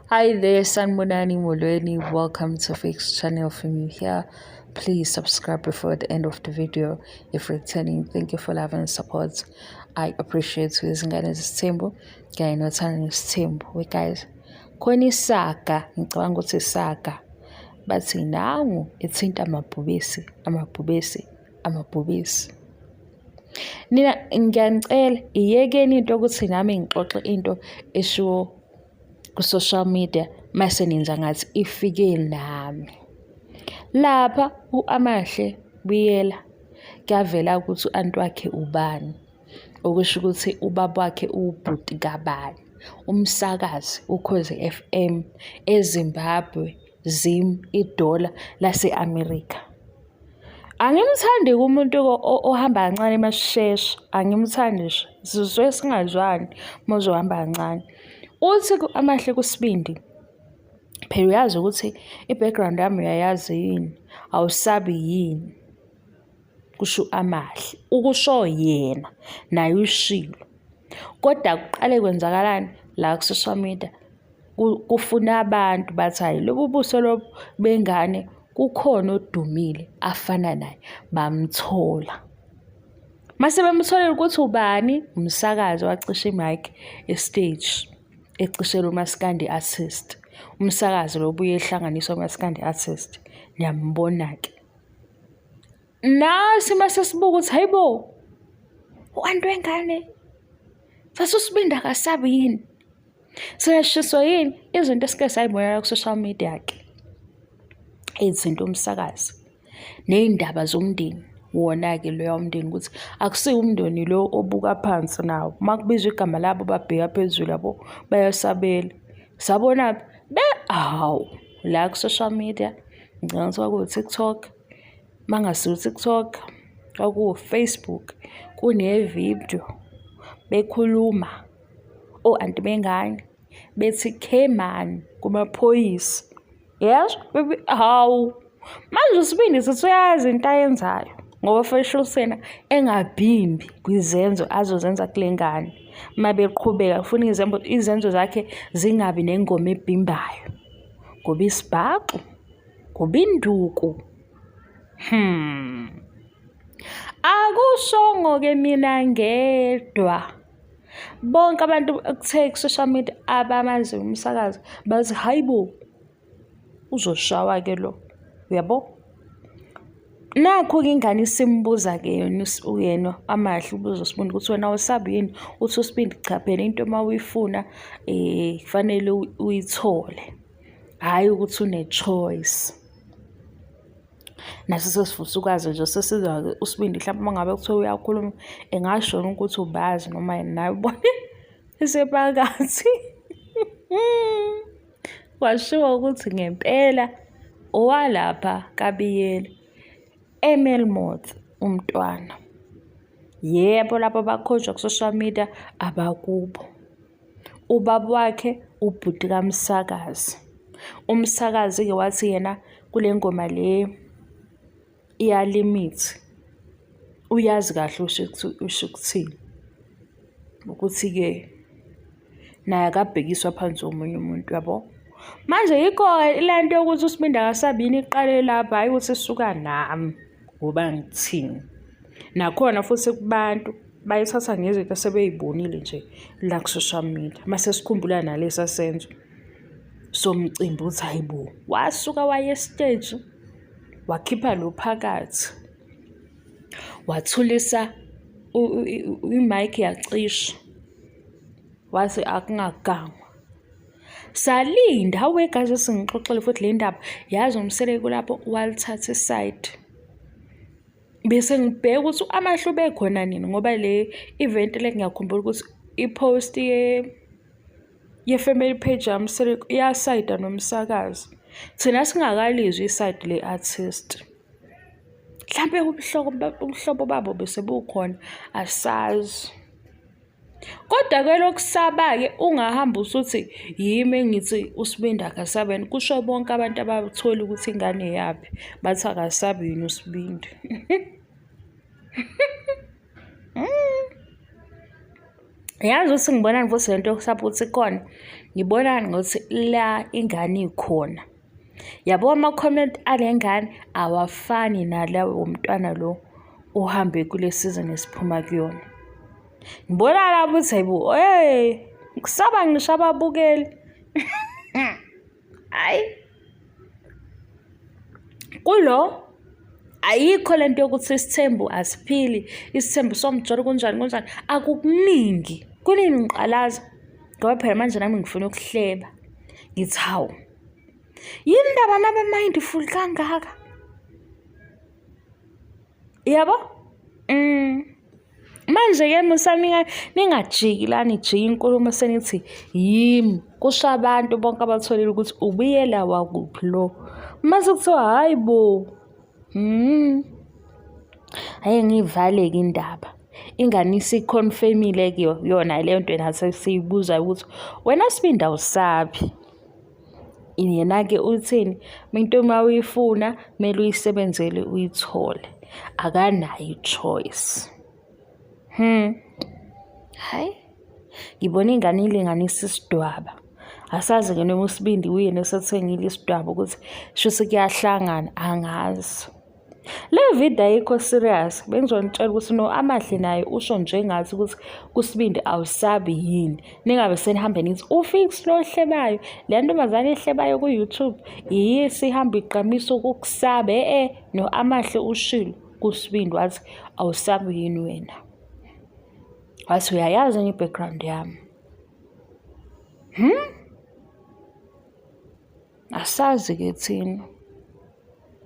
Hi there, Sanbonani Molweni. Welcome to Fix Channel from you here. Please subscribe before the end of the video if returning. Thank you for love and support. I appreciate you. Izingane zesithembu kanye nothando nesithembu. We guys, khona isaga, ngicabanga ukuthi isaga. Bathi nangu ithinta amabhubesi, amabhubesi. amabhubesi nina ngiyanicela iyekeni into ukuthi nami ngixoxe into eshiwo ku-social media mase nenza ngathi ifike nami lapha u-amahle buyela kuyavela ukuthi u-anti wakhe ubani okusho ukuthi ubaba wakhe uwubhuti kabani umsakazi ukhozi FM eZimbabwe Zim idola lase-America. Angimthandi kumuntu ohamba kancane masishesha, angimthandi nje. Sizwe singazwani uma uzohamba kancane. Uthi amahle kusibindi, phela uyazi ukuthi i-background yami uyayazi yini, awusabi yini. kusho amahle ukusho yena naye ushilo kodwa kuqale kwenzakalani la ku-social media kufuna abantu bathi hhayi lobu buso lobu bengane kukhona odumile afana naye bamthola mase bemtholele ukuthi ubani umsakazi wacisha imike estage ecishela umaskandi artist umsakazi lobuye ehlanganiswa umaskandi artist niyambona-ke nasi uma sesibuka ukuthi hayi bo u-anti wengane sasusibindi akasabi yini siyashiswa yini izinto esike sayibonela ku-social media-ke izinto umsakazi ney'ndaba zomndeni wona-ke loya umndeni ukuthi akusiwo umndeni lo obuka phansi nawo uma kubizwa igama labo babheka phezulu yabo bayasabela sabona be awu la ku-social media ngicabanga ukuthi kwakuwu-tiktok uma ngasiwu-tiktok kwakuwu-facebook kunevidiyo bekhuluma o-anti bengane bethi cayman kumaphoyisa Yes, baby. Hawu. Manje usibindi sisuyazi into ayenzayo ngoba feshusena engabhimbi kwizenzo azozenza kule ngane uma beqhubeka ufuna izenzo zakhe zingabi nengoma ebhimbayo ngoba isibhaxu ngoba induku hmm akushongo-ke mina ngedwa Bonke abantu okuthe ku-social media abamaziyo umsakazi bazi hhayi bo, uzoshawa-ke lo, uyabo? Nakhu-ke ingane isimbuza-ke yena uyena amahle ubuza uSibindi ukuthi wena awusabi yini? Uthi uSibindi cha phela into uma uyifuna um kufanele uyithole, hhayi ukuthi une-choice. naso sesifisa ukwazi nje sesizwa-ke usibindi mhlawumbe uma ngabe kuthiwa uyakhuluma engashona ukuthi ubazi noma yini naye ubone isepakathi washiwo ukuthi ngempela owalapha kabiyela emelmoth umntwana yebo labo bakhonjwa ku-social media abakubo ubaba wakhe ubhuti kamsakazi umsakazi-ke wathi yena kule ngoma le iyalimithi uyazi kahle usho ukuthini ukuthi-ke naye akabhekiswa phansi omunye umuntu yabo manje yikho le nto yokuthi usibindi akasabini iqale lapha hhayi ukuthi suka nami ngoba ngithini nakhona futhi kubantu bayithatha ngezinto asebeyibonile nje la ku-social media mase sikhumbula nalesa senzo somcimbi uthi hayi bo wasuka waye estage wakhipha lo phakathi wathulisa imike yacisha wathi akungagangwa salinda awe guys singixoxele futhi le ndaba yazi umseleko lapho walithatha isayidi bese ngibheka ukuthi amahlo bekhona nini ngoba le event le ngiyakhumbula ukuthi i-post ye ye-family page yami yasayida nomsakazi thina singakalizwi isayidi le-artist mhlampe ubuhlobo babo bese bukhona asazi Kodwa ke lokusaba-ke ungahamba usuthi yimi engithi uSibindi akasabi yini, kusho bonke abantu abathola ukuthi ingane eyaphi, bathi akasabi yini uSibindi. Yazi ukuthi ngibonani futhi le nto yokusaba ukuthi ikhona, ngibonani ngokuthi la ingane ikhona. yabo ama-comment ale ngane awafani nalawo womntwana lo ohambe kule sizini esiphuma kuyona ngibona labo ukuthi hayibo hey kusaba ngisho ababukeli hayi kulo ayikho le nto yokuthi isithembu asiphili isithembu somjolo kunjani kunjani akukuningi kuningi ngiqalaza ngoba phela manje nami ngifuna ukuhleba ngithi hawu yini ndaba nabamindful kangaka yabo mm. manje-ke musanika ningajiki la nijike inkulumo senithi yimi kusho abantu bonke abatholile ukuthi ubuyela wakuphi lo mase kuthiwa hhayi bo Hmm. Aye ngivaleke indaba. Ingane isiconfirmile ke yona leyo nto enase siyibuza ukuthi wena Sibindi awusabi. Yena ke uthini? Into uma uyifuna kumele uyisebenzele uyithole. Akanayo i-choice. Hmm. Hayi. Ngibona ingane ilinganisa isidwaba. Asazi ke noma usibindi uyena osethengile isidwaba ukuthi shuthi kuyahlangana angazi. Le video ayikho serious bengizonitshela ukuthi no amahle naye usho njengathi ukuthi kusibindi awusabi yini ningabe senihambe nithi ufix lo hlebayo le ntombazane ehlebayo ku-youtube yiyo esihamba igqamisa ukukusaba e-e no amahle ushilo kusibindi wathi awusabi yini wena wathi uyayazi enye i-background yami hmm? asazi-ke thina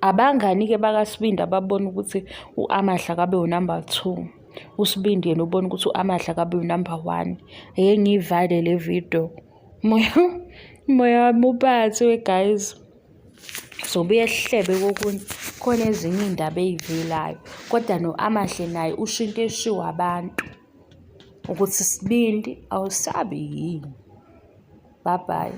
abangani-ke bakasibindi ababona ukuthi u-amahla kabe unumber two usibindi yena ubona ukuthi u-amahla kabe unumber one eye ngiyivale le video moya moya wami ubathiwe guys zobuye sihlebe kokunye khona ezinye iy'ndaba ey'velayo kodwa no-amahle naye usho into eshiwo abantu ukuthi sibindi awusabi yini bye bye